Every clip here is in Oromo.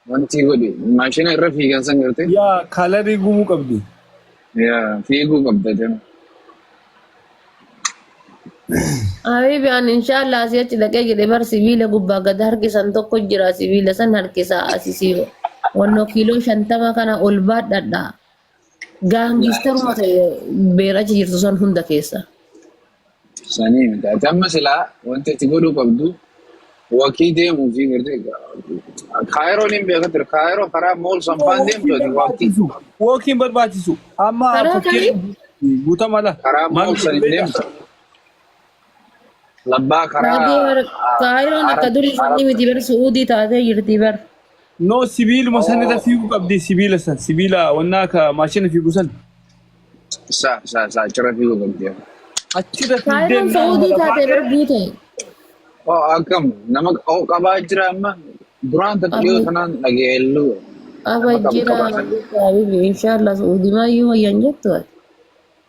Wanti godhe maashina irra fiigan san garte Yaa kalarii gumuu qabdi. yaa fiiguu qabda jama. Habibi an inshallah asii achi dhaqee jedhe bar sibiila gubbaa gad harkisan tokko jira sibiila san harkisaa asisii wannoo kiiloo shantama kana ol baadhadha. Gaangiistaruma ta'e beera achi jirtu san hunda keessa. Sanii miti. Ati amma silaa wanti ati godhuu qabdu wakii deemuu fi gartee kaayiroon hin beekaa ture. Kaayiroo karaa mool sanfaan deemtu ati wakii Wookiin barbaachisu. Amma Karaa fakkeenyaaf guutamala. karaa mool san hin deemtu. Labbaa karaa Saadii har- a- kaayiroon akka Arab durii Arab sanni miti bar su'uudii taatee jirti bar. no sibiiluma san irra oo fiiguu qabdi sibiila san sibiila wannaa ka maashina fiigu san sa sa sa achirra fiiguu qabdi. achirra fiigdee Kaayiroon innaan su'uudii lafa taatee bar taatee buute. Oo akkam nama oo qabaa jira amma duraan tatti dhiyoo Abe tanaan dhageellu abe nama qabu jira qabaa san. abe inshallah su'uudii maayyuu wayyan jettu.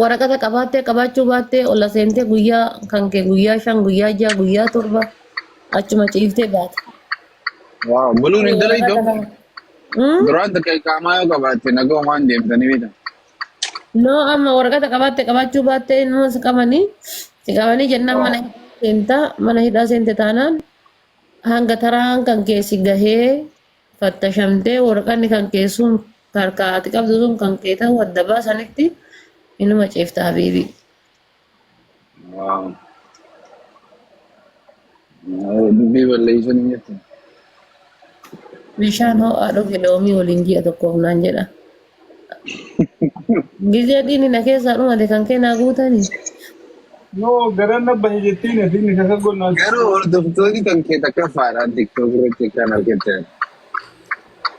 waraqata qabaattee qabaachuu baattee ola seentee guyyaa kan kee guyyaa shan guyyaa ja'a guyyaa torba achuma ciiftee baata. Waaw, buluun hin dalaydu Waraqata amma. kana. Hmm? Duraan takka iqaamaa yoo qabaatte nagaa waan deemtanii beekta. No amma waraqata qabaatte qabaachuu baattee ilmoo si qabanii si qabanii jennaan mana Waaw. hidhaa seentaa mana hidhaa seente taanaan hanga taraan kan kee si gahee fattashamtee waraqanni kan kee sun harkaa ati qabdu sun kan kee ta'uu adda baasanitti inuma ciifta habiibii. Waaw. Waaw, Dubbii balleessuun hin jirtu. Bishaan ho'aa dhugi loomii waliin ji'a tokkoof naan jedha. Gizee dhiini na keessaa dhumate kan kee naa guutani. Yoo garan na bahe jettiin ati inni kaka gonnaan. Garuu hordoftoonni kan kee takka faadhaan tiktok irratti kan argatte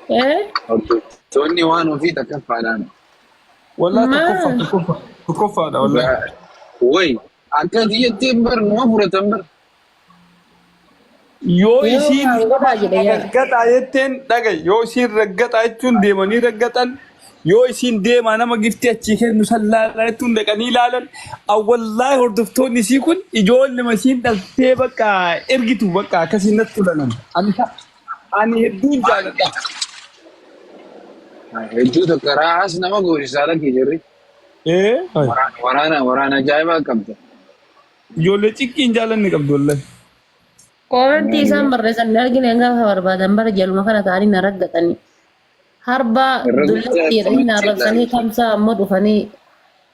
Eh? hordoftoonni waan ofii takka faadhaan Wallaa Maa? tokkoffa tokkoffa tokkoffaadha wallaa. dhugaa wayi akka kiyyattiin bar numa fudhatan bar Yoo Yoo isiin waan godhaa jedhe yaada. raggaxaa jetteen dhaga'i. Yoo isiin raggaxaa jechuun deemanii raggaxan. Yoo isiin deemaa nama giftii achii kennu san laalaa jettuun dhaqanii laalan. Awwallahi hordoftoonni isii kun ijoollema isiin dhaltee bakka ergitu bakka akkasiin natti tolanan. Ani ta- ani hedduun jaaladha. Hedduu tokko raahaas nama goosisaa lakkii jirri. Ee. Waraana waraana waraana ajaa'ibaa qabda. Ijoollee ciqqii hin jaallanne qabdu wallahi. Koomentii isaan barreessan hin argine gaafa barbaadan bara jaluma kana ta'anii na raggatanii. Harbaa Irra dullatti guddaa jedhanii na kamitti arrabsanii ilaalcha. kamsaa ammoo dhufanii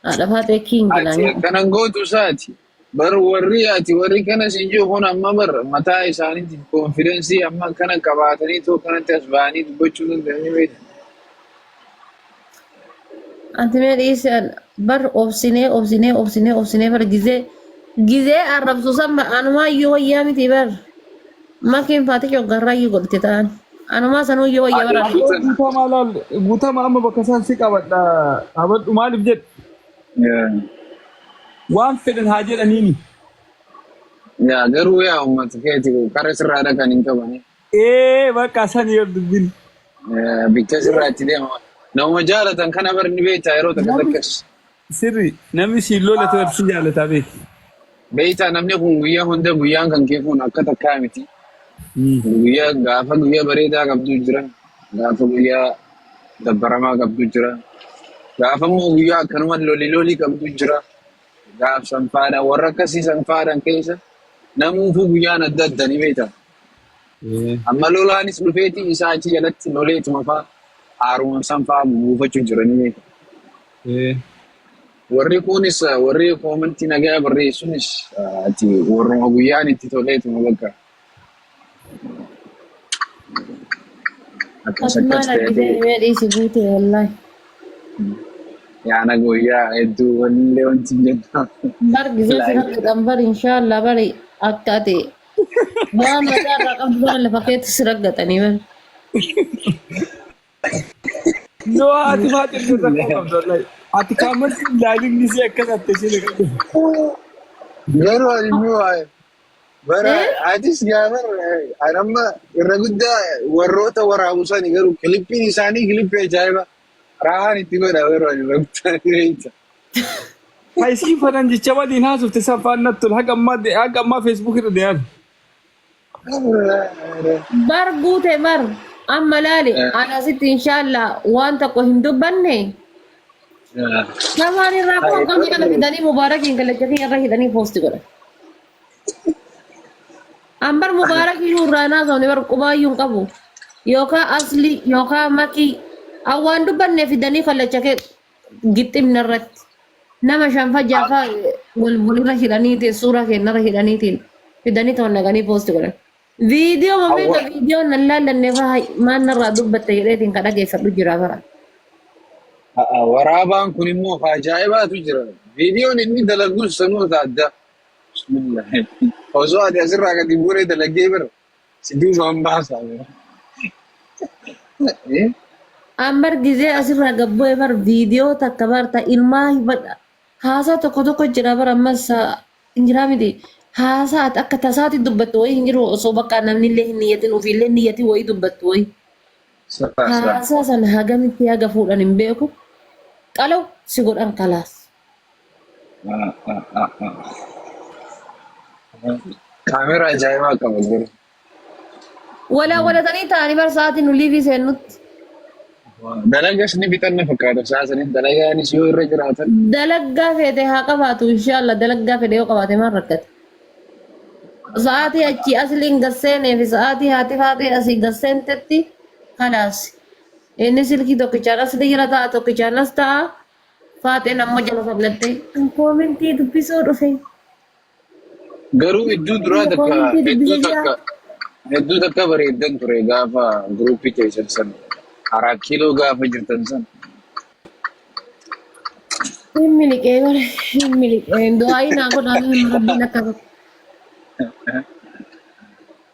haadha faaxee kiingi naan Ati jedhan. akkanan gootu isaati. Bar warri ati warri kana siin jiru kun amma bar mataa isaaniitiif koonfidensii amma kana qabaatanii too kanatti as ba'anii dubbachuu danda'anii beektu. Ati mee dhiisi an- bar obsinee obsinee obsinee obsinee bar gizee gizee arrabsu san bar anumaa iyyuu wayyaa miti bar makiin faati coggarraa iyyuu godhite ta'an anumaa sanuu iyyuu wayya bar Ati arrabsu. guutama laal guutama amma bakka isaan si qabadha qabadhu maaliif jedhe Yaa waan fedhan haa jedhaniini. yaa garuu yaa uummata keeti qarri sirraa dhaqan hin qabani. Ee bakka san yoo dubbin. Bicha sirraa itti deema. Nama jaalatan kana bar ni beektaa yeroo takka Namni takkas. sirri namni siin lola ta'e si jaalataa beek. Beektaa namni kun guyyaa hunda guyyaan kan kee kun akka takkaa miti. Guyyaa gaafa guyyaa bareedaa qabdu jira. Gaafa guyyaa dabbaramaa qabdu jira. Gaafa immoo guyyaa akkanuma loli loli qabdu jira. Gaaf sanfaadhaan warra akkasii sanfaadhaan keessa namuufuu guyyaan adda adda ni beektaa. Eh, Amma lolaanis dhufeeti isaa achi jalatti loleetuma faa haaruma san faa buufachuu jiranii. eh, Warri kunis eh, warri koomantii nagaa barreessunis eh, ati warruma guyyaan itti toleetuma bakka akkas akkas Asumaan ta'ee argitee mee dhiisi guute wallahi. yaana guyyaa hedduu wanillee wanti hin jennu. Bar gisee si Like. rakkataan bar inshaallah bari akka ati Waan mataa irraa qabdu bara lafa keetti si raggatanii bara. Yoo haati faaxee illee rakkoo qabdu wallahi. Ati kaamarsi ilaalin ni si akkas atte isheen qabdu. Garuu ani immoo eh, bara Eh? atis gaafa eh, ani amma irra guddaa warroota waraabu sani garuu kilippiin isaanii kilippii ajaa'iba. Raahaan itti godha yeroo ani rabbitaan beekta. Ka isiin fanan jecha waliin haasofte san faan natti tole. Haga ammaa haga ammaa Facebook irra deeman. Bar guute bar. Amma laali. An asitti inshaalla waan tokko hin dubbanne. Sabaan irraa koo qabni kana fidanii mubaarakiin kallacha kiyya irra hidhanii poosti godha. Ambar Mubaarak iyyuu irraa hin haasofne bar qubaa iyyuu hin qabu. Yookaa Asli yookaa Makii an waan dubbanne fidanii kallacha kee gixximna irratti. Nama shanfa jaafa wal walirra hidhaniitiin suuraa keenyarra hidhaniitiin fidanii ta'u naqanii poosti godhan. Viidiyoo mameeqa Awwa. viidiyoo nan laallanne faa maan narraa dubbatte jedheetiin ka dhageeffadhu jira bara. A'a, Waraabaan kun immoo of ajaa'ibaatu jira. Viidiyoon inni dalagus sanuu adda. Bismillah. Osoo ati asirraa gadi buunee dalagee bira si duubaan baasaa bira. Eh? An bar gizee asirraa gabbu'e bar viidiyoo takka bar ta ilmaa hibadha. Haasaa tokko tokko jira bar ammas ah, hin jiraa miti. Haasaa ati akka tasaati dubbattu wayii hin jiru osoo bakka namni illee hin niyyatin ofiillee niyyati wayii dubbattu wayii. Sa sa. Haasaa san hagamitti haga fuudhan hin beeku. Qalaw si godhan kalaas. Kaameera ajaa'ibaa qaba jiru. Walaa walatanii taa'anii bar sa'aatii nu liivii seennutti. Dalagas ni bitanna fakkaata isaa saniin dalagaanis yoo irra jiraatan. Dalaggaa feete haa qabaatu inshaallah dalaggaa fedhe yoo qabaate maal rakkate. Sa'aatii achii asliin gasseenee fi sa'aatii haati faatee asii gasseentetti kalaas. Inni silkii tokkichaan asli jira ta'a tokkichaan as ta'a. Faaxeen amma jala sablattee. Kan koomentii dubbisuu dhufe. Garuu idduu duraa Nama takka koomentii hedduu dubbisuu jira. takka hedduu takka bareeddan ture gaafa guruupii keessan san karaa kiiloo gaafa jirtan san Hin miliqee bara. Hin miliqee. Du'aayii naa godhaa mee amma rabbiin akka godhu.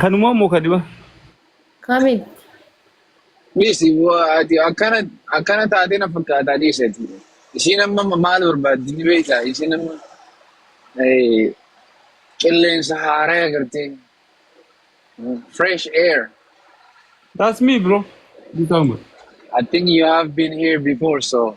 Kanumaa moo kadhima? Kamil. Dhiisi waa ati akkana akkana taatee na fakkaataa dhiisi ati. Ishiin amma maal barbaaddi ni beektaa? Ishiin amma eh, qilleensa haaraa agartee fresh air. That's me bro. Ni taa'uma. I think you have been here before so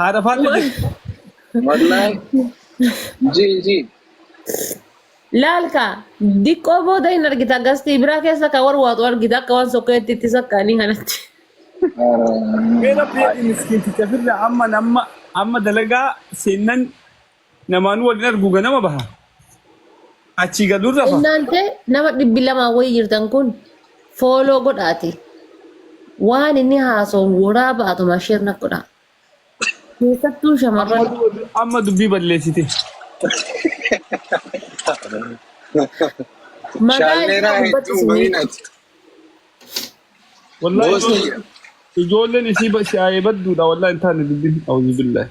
Haadha faadha jirti. Wallahi. Ji ji. Laalka diqqoo booda hin argita gastii biraa keessa kan warwaatu argita akka waan sokkeetti itti saqqaanii kanatti. Mee rabbi jedhi miskiinticha firra amma namma amma dalagaa seennan Namaan waliin argu ganama baha. Achii galuun rafa. Innaante nama dhibbi lamaa wayii jirtan kun fooloo godhaati. Waan inni haasa'u waraa baatuma sheer na godhaa. Keessattuu Amma shamarran du- amma dubbii balleessite. magaa Shaallee isaa irraa dubbatti hedduu isinii. baay'inati. Wallahi Boosni ijoolleen ijoolleen isii ba- si'aayee badduudha wallahi hin taane dubbiin. Auzubillahi.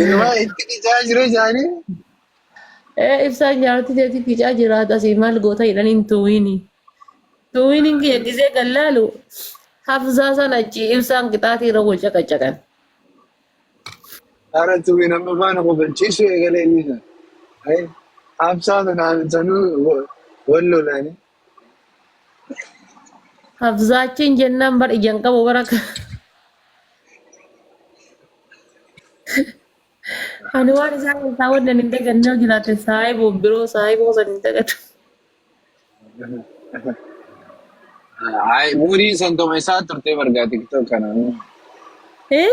Inumaa itti qicaa jiru isaanii. Ee ibsaa nyaatti jeetii ficaa jiraata asii maal goota jedhan hin tuwiini. Tuwiini kiyya gisee kan laalu hafzaa san achi ibsaan qixaatii irra wal caqacaqan. Haara tuwiin amma faana kofalchiisuu eegalee inni sana. Ayi haabsaa sana haamsanuu wal lolaanii. Hafzaachiin jennaan bar ijaan qabu bara akka. Ani waan isaa keessaa wanni ani hin daganne yoo jiraate saahiboo biroo saahiboo san hin dagatu. Ay, umuriin san tuma isaa turtee bargaa tiktok kana. Eh?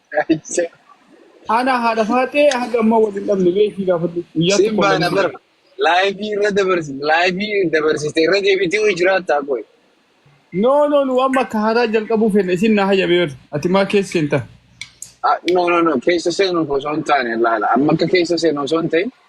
Ana haadha faaxee haga ammaa wal hin dhabne mee ishii gaafadhu guyyaa Sin tokko wal baana hin bar. dhabne. Laayifii irra dabarsi. Laayifii dabarsite irra deebitii hojii jiraattaa qoy. No no nu amma akka haaraa jalqabuu fedha isin na hayyame bar ati maa keessa seenta. Ah, No no no keessa seenuuf osoo hin taane laala. Amma akka keessa seenu osoo hin ta'in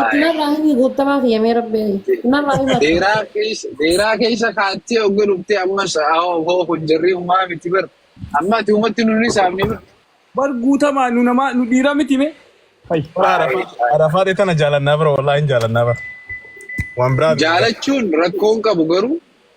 Ittinarraa himi guuttamaa kiyya mee rabbi ittinarraa hima Deeraa keessa deeraa keessa kaattee ogga dhuftee ammas hoo hoo kun jarri umaa miti bar. Amma ati umatti nu ni saamne bar. Bar guutamaa nu namaa nu dhiira miti mee. Ay, bara arafaa arafaa ta'e tana jaalannaa bara wallaahi hin jaalannaa bara. Waan biraa miti bara. Jaalachuun rakkoon qabu garuu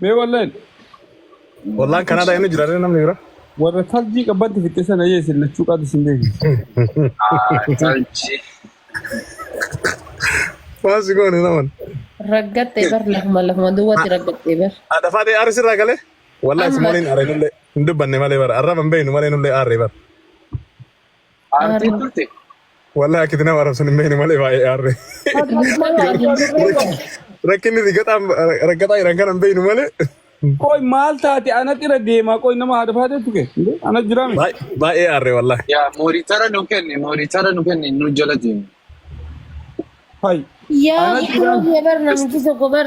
Mee walleen Wallaan Kanaadaa inni jira ree namni bira. warra tarjii qabbatti fixxe sana yee isin lachuu qaatu isin beeksisa. Tarjii. Waan si goone naman. Raggattee bar lafuma lafuma duwwaatti raggattee bar. Adda faatee aarri sirraa galee. Wallahi Amma. simooniin aarre nullee hin dubbanne malee bara. Arraba hin beeknu malee nullee aarre bara. Aartee Aarree. turte. Wallahi akkiti nama arrabsan hin beekne malee baay'ee aarre. Rakkinni si gaxaan rakkataa jiran kana hin beeknu malee Qoy maal taate anatti irra deemaa qoy nama haadha faatee tuke. Ana jiraame. baay- baay'ee aarre wallahi. Yaa moonitara nu kenni moonitara nu kenni nu jala deemu. Hay. Yaa Ana akkuma jiraame. kee bar namichi tokko bar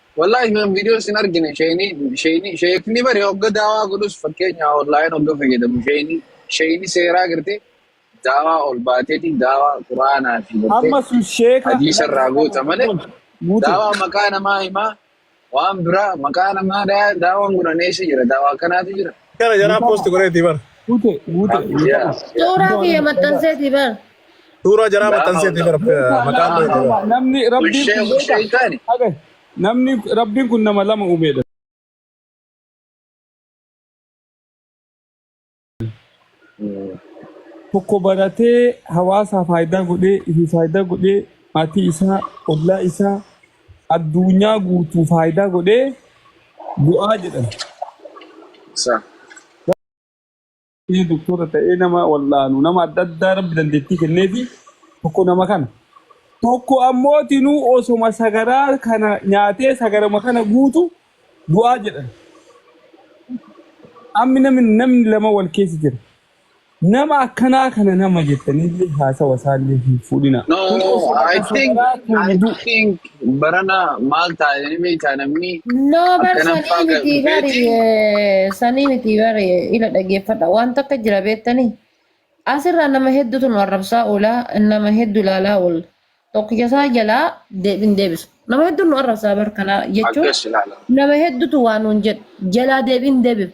Wallahi kan video sin argine sheyni sheyni sheekni bari hogga daawaa godhus fakkeenya online hogga fayyadamu sheyni sheyni seeraa garte daawaa ol baateeti daawaa quraanaa fi garte Amma sun sheeka hadiisa irraa lagaa goota malee guutu. Guutu. daawaa maqaa namaa himaa waan biraa maqaa namaa daa- daawaan godhan eessa jira daawaa akkanaatu jira Kana jaraa post godheeti bar. Guute guute. Yaa, yaa. Suuraa kiyya maxxanseeti bar. Suuraa jaraa maxxanseeti bara maqaan koo jedhee bara. Namni rabbiin kun beeka. Namni rabbiin kun nama lama uumeedha. Tokko baratee hawaasaa faayidaa godhee ifi faayidaa godhee maatii isaa ollaa isaa addunyaa guutuu faayidaa godhee bu'aa jedhan. Sa. Inni doktora ta'ee nama wal'aanu nama adda addaa rabbi dandeettii kenneefi tokko nama kana. Tokko ammoo tinuu osoma sagaraa kana nyaatee sagarama kana guutu du'aa jedhan. Ammi namni namni lama wal keessa jira. Nama akkanaa kana nama jettanii haasawa isaallee hin fuudhina. No, Kun osoma I ka think, sagaraa I tuudu. think, Barana maal taa'e ni beekaa namni No bar akkana sanii faa ga- miti bari beetiin eh, sanii miti bari eh, ila dhageeffadha waan takka jira beettanii asirraa nama hedduutu nu arrabsaa oola nama heddu ilaalaa oolla tokkicha isaa jalaa deebin deebisu nama heddu nu arrabsaa bar kana jechuun akkas ilaala. nama hedduutu waa nuun jedhu jalaa deebin deebisu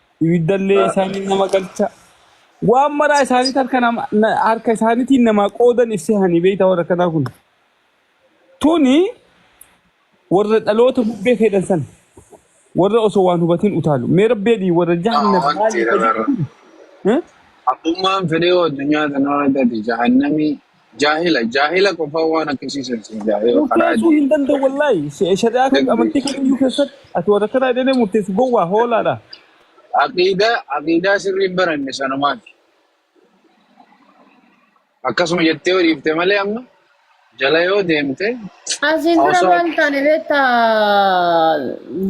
ibiddallee isaanii nama galcha waan maraa isaaniit harka nama na- harka isaaniitiin namaa qoodan ibsee hanii beeyta warra kanaa kun tuni warra dhaloota bubbee fedhan san warra osoo waan hubatiin utaalu mee rabbi jedhii warra jahannam Waan maaliif jedhan jedhama. kun Eh? Abbummaan fedhii addunyaa kanarra gadi jahannamii Jaahila jaahila qofaa waan akkasii sirsiin jaahila karaa Murteessuu hin danda'u deemu. wallaahi. Se- Shari'aa kan Dagdee. amantii kamiyyuu keessatti ati warra kanaa jedhanii murteessu gowwaa hoolaadha. Aqiidaa aqiidaa sirrii hin baranne sanumaati. Akkasuma jettee yoo dhiifte malee amma jala yoo deemte Asiin dura osoo maal taane beekta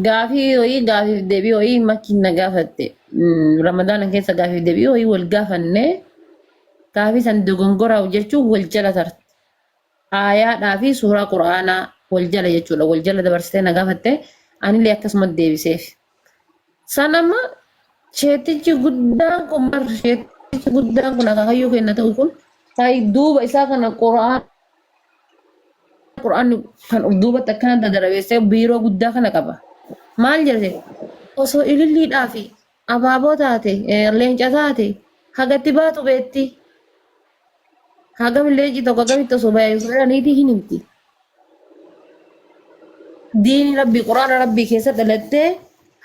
gaafii ho'ii gaafiif deebii ho'ii makiin na gaafatte. Mm, Ramadaana keessa gaafiif deebii ho'ii wal gaafannee Gaafii san dogongoraa'u jechuun wal jala tarte. Aayaadhaa fi suuraa Qur'aanaa wal jala jechuudha. Wal jala dabarsitee na gaafatte anillee akkasuma deebiseef. San amma sheettichi guddaan kun bar sheettichi guddaan kun akaakayyuu kenna ta'u kun ta'i duuba isaa kana Qur'aan Qur'aanni kan of duubatti akkana dadarabeessee biiroo guddaa kana qaba. Maal jedhe osoo ililliidhaa fi Abaaboo taate, leenca taate, hagatti baatu beetti. Hagam leenci tokko agamitti osoo baay'ee sooraniitii hin himti. Diini rabbii quraana rabbii keessa dhalattee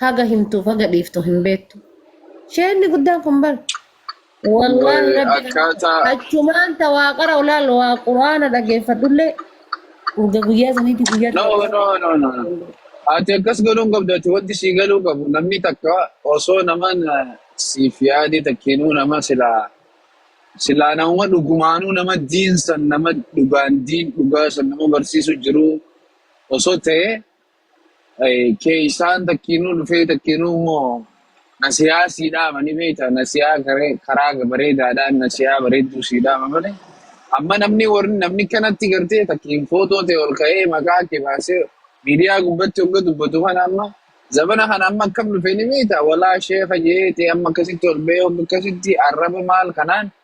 haga himtuuf haga dhiiftu hin beektu. Sheenni guddaan kun bar. Wallahi Wal- rabbi akkaataa achumaan ta waaqara olaal waa quraana dhageeffadhullee urga guyyaa saniitti guyyaa no tokko no no no no. ati akkas godhuu hin qabdu ati wanti sii galuu qabu namni takka osoo naman eh, siif yaadee takkiinuu nama silaa silaa nama dhugumaanuu nama diin san nama dhugaan diin dhugaa san nama barsiisu jiru osoo ta'e Keeysaan takkiinuu dhufee takkiinuu immoo nasiyaa sii dhaama ni beeyta nasiyaa garee- karaa bareedaadhaan nasiyaa bareedduu sii dhaama malee amma namni warri namni kanatti gartee takkiin footoo ta'e ol ka'ee maqaa kee baasee miidiyaa gubbatti hogga dubbatu kana amma zabana kana amma akkam dhufe ni beeyta walaa sheeka jeete amma akkasitti ol ba'ee hogga akkasitti arraba maal kanaan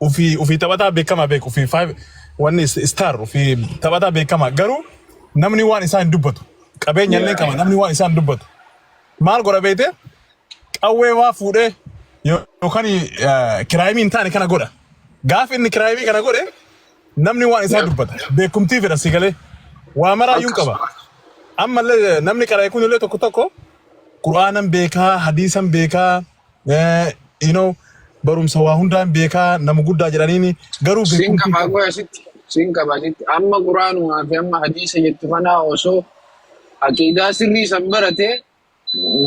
Ufii ufii taphataa beekamaa beeku ufii five wanni is- star ufii taphataa beekamaa garuu namni waan isaa hin dubbatu qabeenya illee qaba namni waan isaa hin dubbatu maal godha beekte qawwee waa fuudhee yo- yookaan eh, kiraayimii hin taane kana godha gaafa inni kiraayimii kana godhe namni waan isaa dubbata beekumtii fedha si galee waa maraayyuun qaba ammallee namni qara'e kun illee tokko tokko quraanan beekaa hadiisan beekaa Eh, you know, barumsa waa hundaan beekaa nama guddaa jedhaniini garuu Siin beekumsi qabaa isaa qoya asitti. Siin qabaa asitti. Amma quraanumaa fi amma hadiisa jettu kanaa osoo aqiidaa sirrii san barate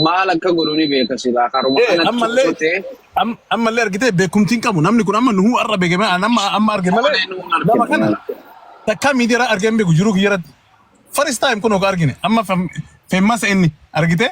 maal akka godhu ni beeka silaa karuma Eh, kanatti ammallee osoo ta'e am- ammallee argitee beekumtiin qabu namni kun amma nuhuu arra beeke malee amma amma arge malee malee nu hin nama kana arginu. takkaa miidiyaa argee hin beeku jiruu kiyyaratti first time kun oga argine amma fem- femmasa inni argitee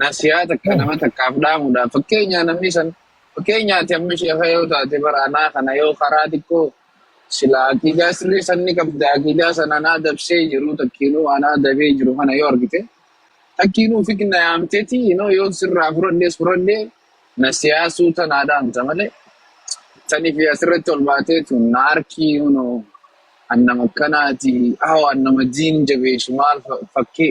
nasiyaa takka Hmm. nama takkaaf dhaamuudhaaf fakkeenyaa namni san fakkeenyaa ati amma sheeka yoo taate bara anaa kana yoo karaa xiqqoo sila aqiidaa sirrii san ni qabda aqiidaa san anaa dabsee jiru takkiinuu anaa dabee jiru kana yoo argite takkiinuu fitna yaamteeti inoo yoo sirraa fudhadhee fudhadhee nasiyaa suuta naa dhaamta malee saniif asirratti ol baatee tun na harkii inoo annama akkanaati hawa annama diin jabeessu maal fa- fakkee